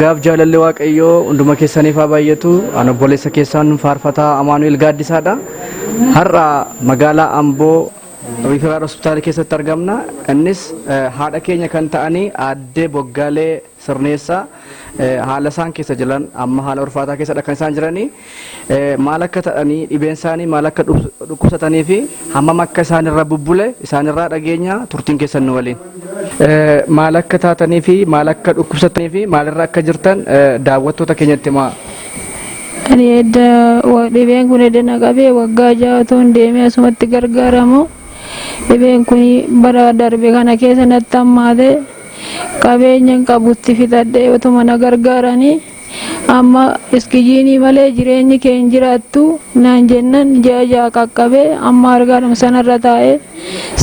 Gaaf jaalalli Waaqayyoo hunduma keessaniif haa baay'atu. An obboleessa keessan faarfataa Amaanu'el Gaaddisaadha. Har'a magaalaa Amboo Riiferaal Hospitaala keessatti argamna. Innis haadha keenya kan ta'anii aaddee Boggaalee sirneessa haala isaan keessa jiran amma haala ulfaataa keessa kan isaan jiranii maal akka ta'anii dhibeen isaanii maal akka dhukkubsatanii fi hammam akka isaan irra bubbule isaan irraa dhageenya turtiin keessan nu waliin. Maal akka taatanii fi maal akka dhukkubsatanii fi maal irra akka jirtan daawwattoota keenyatti himaa. Ani edda dhibeen kun edda na qabee waggaa ja'a tuun deemee asumatti gargaaramu dhibeen kun bara darbe kana keessa natti hammaate. Qabeenyan qabu itti fixadhee otuma na gargaaranii amma iskijiinii malee jireenyi kee hin jiraattu naan jennan ji'a ja'a qaqqabee amma argaadhuma sanarra taa'ee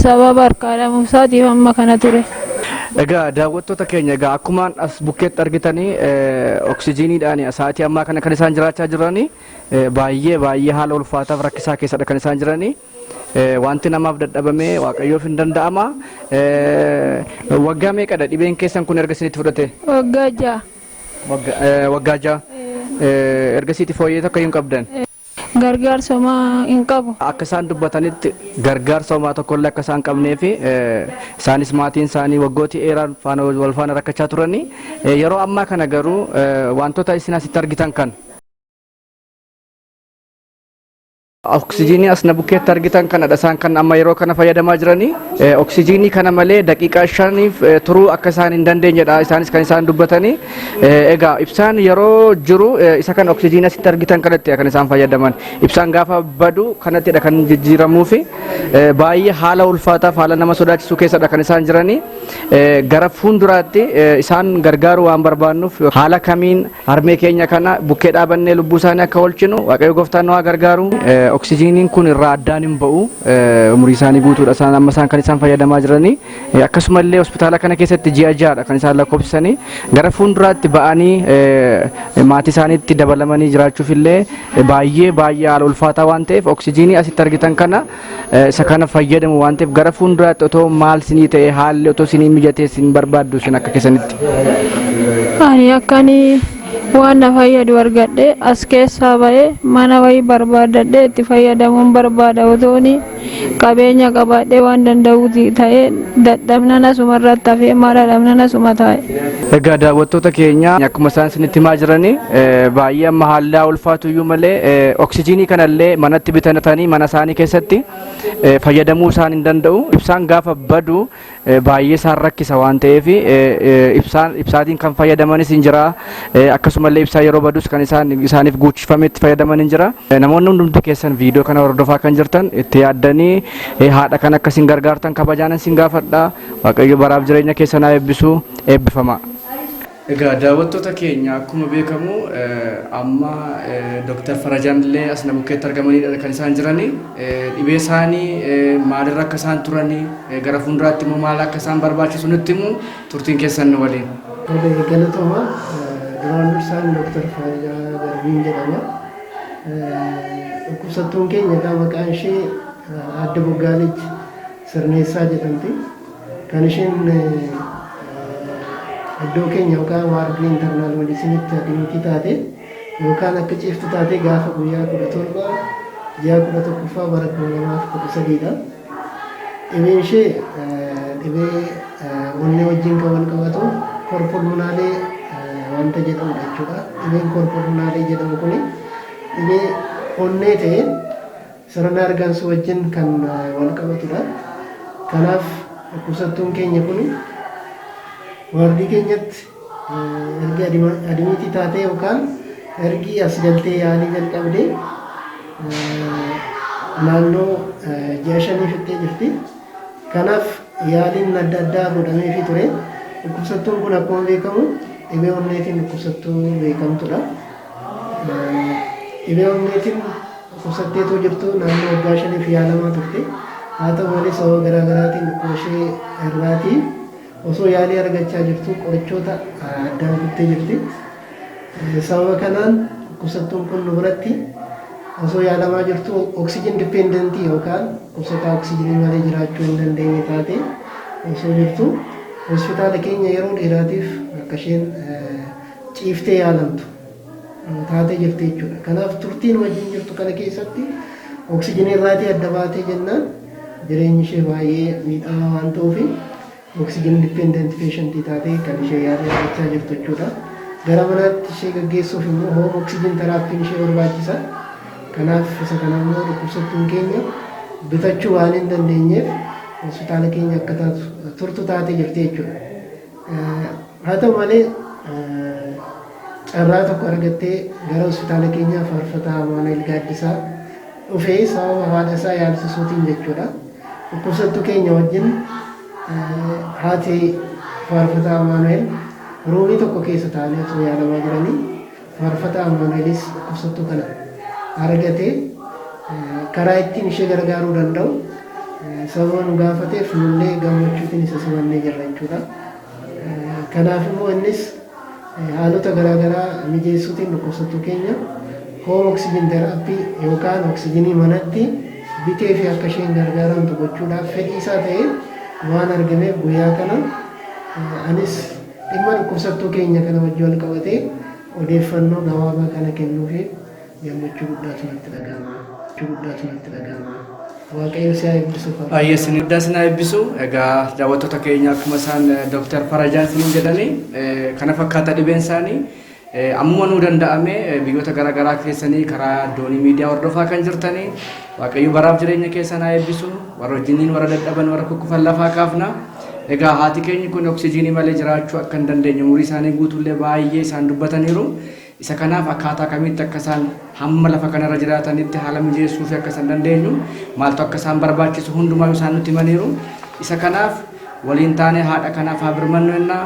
sababa harkaa dhabuusaatiif amma kana ture. Egaa daawwattoota keenya egaa akkumaan as bukkeetti argitanii oksijiiniidhaan sa'aatii ammaa kana kan isaan jiraachaa jiranii baay'ee baay'ee haala ulfaataaf rakkisaa keessadha kan isaan jiranii. Wanti namaaf dadhabame Waaqayyoof hin danda'ama. Waggaa meeqadha dhibeen keessan kun erga isinitti fudhate? Waggaa ja'a. Waggaa ja'a. Ergasiiti fooyyee takka hin qabdan? Gargaarsa homaa hin qabu. Akka isaan dubbatanitti gargaarsa homaa tokkollee akka isaan qabnee fi isaanis maatiin isaanii waggooti eeraan faana wal faana rakkachaa turanii yeroo ammaa kana garuu wantoota isin asitti argitan kana Oksijiinii as na bukkeetti argitan kanadha isaan kan amma yeroo kana fayyadamaa jiranii oksijiinii kana malee daqiiqaa shaniif turuu akka isaan hin dandeenyedha isaanis kan isaan dubbatanii egaa ibsaan yeroo jiru isa kan oksijiinii asitti argitan kanatti kan isaan fayyadaman ibsaan gaafa badu kanattidha kan jijjiiramuu fi baay'ee haala ulfaataaf haala nama sodaachisuu keessadha kan isaan jiranii gara fuulduraatti isaan gargaaru waan barbaannuuf haala kamiin Harmee keenya kana bukkee dhaabannee lubbuu isaanii akka oolchinu Waaqayyo gooftaan nu haa gargaaru. Eh, Oksijiiniin kun irraa addaan hin ba'u. Eh, Umurii isaanii guutuudha isaan amma isaan kan isaan fayyadamaa jiranii. Eh, Akkasuma illee hospitaala kana keessatti ji'a ja'aadha kan isaan lakkoofsisanii. Gara fuulduraatti ba'anii eh, maatii isaaniitti dabalamanii jiraachuuf illee eh, baay'ee baay'ee haala ulfaataa waan ta'eef oksijiinii asitti argitan kana isa kana fayyadamu waan ta'eef gara fuulduraatti otoo maal sinii ta'e haalli otoo sinii mijatee sin barbaaddu isin akka keessanitti. Ani akkan waan na fayyadu argadhe as keessaa ba'ee mana wayii barbaadadhe itti fayyadamuun barbaada otoon qabeenya qabaadhee waan danda'uuti ta'ee dadhabnan asuma irratti hafee maal dhabnan asuma taa'e. Egaa daawwattoota keenya akkuma isaan isinitti himaa jiranii baay'ee amma haalaa ulfaatu iyyuu malee oksijiinii kanallee manatti bitatanii mana isaanii keessatti fayyadamuu isaan hin danda'u. Ibsaan gaafa badu baay'ee isaan rakkisa waan ta'eef ibsaatiin kan fayyadamanis hin jira. Akkasumallee ibsaa yeroo badus kan isaaniif guuchifame itti fayyadaman hin jira. Namoonni hundumti keessan viidiyoo kana hordofaa kan jirtan itti yaaddanii haadha kan akka isin gargaartan kabajaanan isin gaafadha. Waaqayyo baraaf jireenya keessan haa eebbisu eebbifamaa. Egaa daawwattoota keenya akkuma beekamu amma Dr. Farajaan illee as na bukkeetti argamaniidha kan isaan jirani. Dhibee isaanii maalirra akka isaan turani gara fuulduraatti immoo maal akka isaan barbaachisu nutti himu turtiin keessan nu waliin. Galatoomaa duraan dursaan Dr. Farajaa Darbiin jedhama. Dhukkubsattuun keenya egaa maqaan ishee Aadde Boggaaleetti. Sirneessaa jedhamti. Kan isheen iddoo keenya yookaan waardii internal medicinitti hakimiitii taate yookaan akka ciiftu taate gaafa guyyaa 17 ji'a 11ffaa bara 2013 dha. Dhibeen ishee dhibee onnee wajjin kan wal qabatu korpulmunaalee wanta jedhamudha jechuudha. Dhibeen korpulmunaalee jedhamu kun dhibee onnee ta'ee Sirna hargansuu wajjin kan walqabatudha. Kanaaf dhukkubsattuun keenya kun waardii keenyatti erga adimiitii taatee yookaan ergi as galtee yaalii jalqabdee naannoo ji'a shanii fixxee jirti. Kanaaf yaaliin adda addaa godhameefii ture. Dhukkubsattuun kun akkuma beekamu dhibee onneetiin dhukkubsattuu beekamtudha. Dhibee onneetiin dhukkubsattee otoo jirtuu naannoo waggaa shaniif yaalamaa turte. Haa ta'u malee sababa garaa garaatiin dhukkuba ishee irraatii osoo yaalii argachaa jirtuu qorichoota addaan kuttee jirti. Sababa kanaan dhukkubsattuun kun nu biratti osoo yaalamaa jirtuu oksijin dipendentii yookaan dhukkubsataa oksijinii malee jiraachuu hin dandeenye taate osoo jirtu hospitaala keenya yeroo dheeraatiif akka isheen ciiftee yaalamtu taatee jirti jechuudha. Kanaaf turtiin wajjin jirtu kana keessatti oksijinii irraatii adda baatee jennaan jireenyi ishee baay'ee miidhamaa waan ta'uuf oksijin dippeendenti peeshantii taatee kan ishee yaala argachaa jirtu jechuudha. Gara manaatti ishee gaggeessuuf immoo hoom oksijin teraappiin ishee barbaachisa. Kanaaf isa kana immoo dhukkubsattuun keenya bitachuu waan hin dandeenyeef hospitaala keenya akka taatu turtu taatee jirti jechuudha. Haa ta'u malee carraa tokko argattee gara hospitaala keenyaa faarfataa Amaanu'eel Gaaddisaa dhufee sababa haadha isaa yaalsisuutiin jechuudha. Dhukkubsattuu keenya wajjin haati faarfataa Amaanu'eel ruumii tokko keessa taa'anii osoo yaalamaa jiranii Faarfataa Ammanuelis dhukkubsattuu kana argatee karaa ittiin ishee gargaaruu danda'u sababa nu gaafateef nullee gammachuutiin isa simannee jirra jechuudha. Kanaaf immoo innis haalota garaagaraa mijeessuutiin dhukkubsattuu keenya hoom oksijin teraappii yookaan oksijinii manatti bitee fi akka isheen gargaaramtu gochuudhaaf fedhii isaa ta'ee waan argameef guyyaa kana anis Dhimma dhukkubsattuu keenya kana wajji wal qabatee odeeffannoo gabaabaa kana kennuufiin gammachuu guddaatu natti dhaga'ama. Gammachuu guddaatu natti dhaga'ama. Waaqayyo si haa eebbisu Faraj. Baay'ee isin guddaa isin haa eebbisu. Egaa daawwattoota keenya akkuma isaan Dooktar Farajaan isiniin jedhanii eh, kana fakkaata dhibeen isaanii. Ammuma nuu danda'ame biyyoota gara garaa keessanii karaa doonii miidiyaa hordofaa kan jirtanii Waaqayyo baraaf jireenya keessan haa eebbisu. Warra wajjiniin warra dadhaban warra kukkufan lafaa kaafna. Egaa haati keenyi kun oksijiinii malee jiraachuu akka hin dandeenye umurii isaanii guutuullee baay'ee isaan dubbataniiru. Isa kanaaf akkaataa kamitti akka isaan hamma lafa kanarra jiraatanitti haala mijeessuu fi akka isaan dandeenyu maaltu akka isaan barbaachisu hundumaa isaan nutti himaniiru. Isa kanaaf waliin taanee haadha kanaaf haa birmannu jennaa.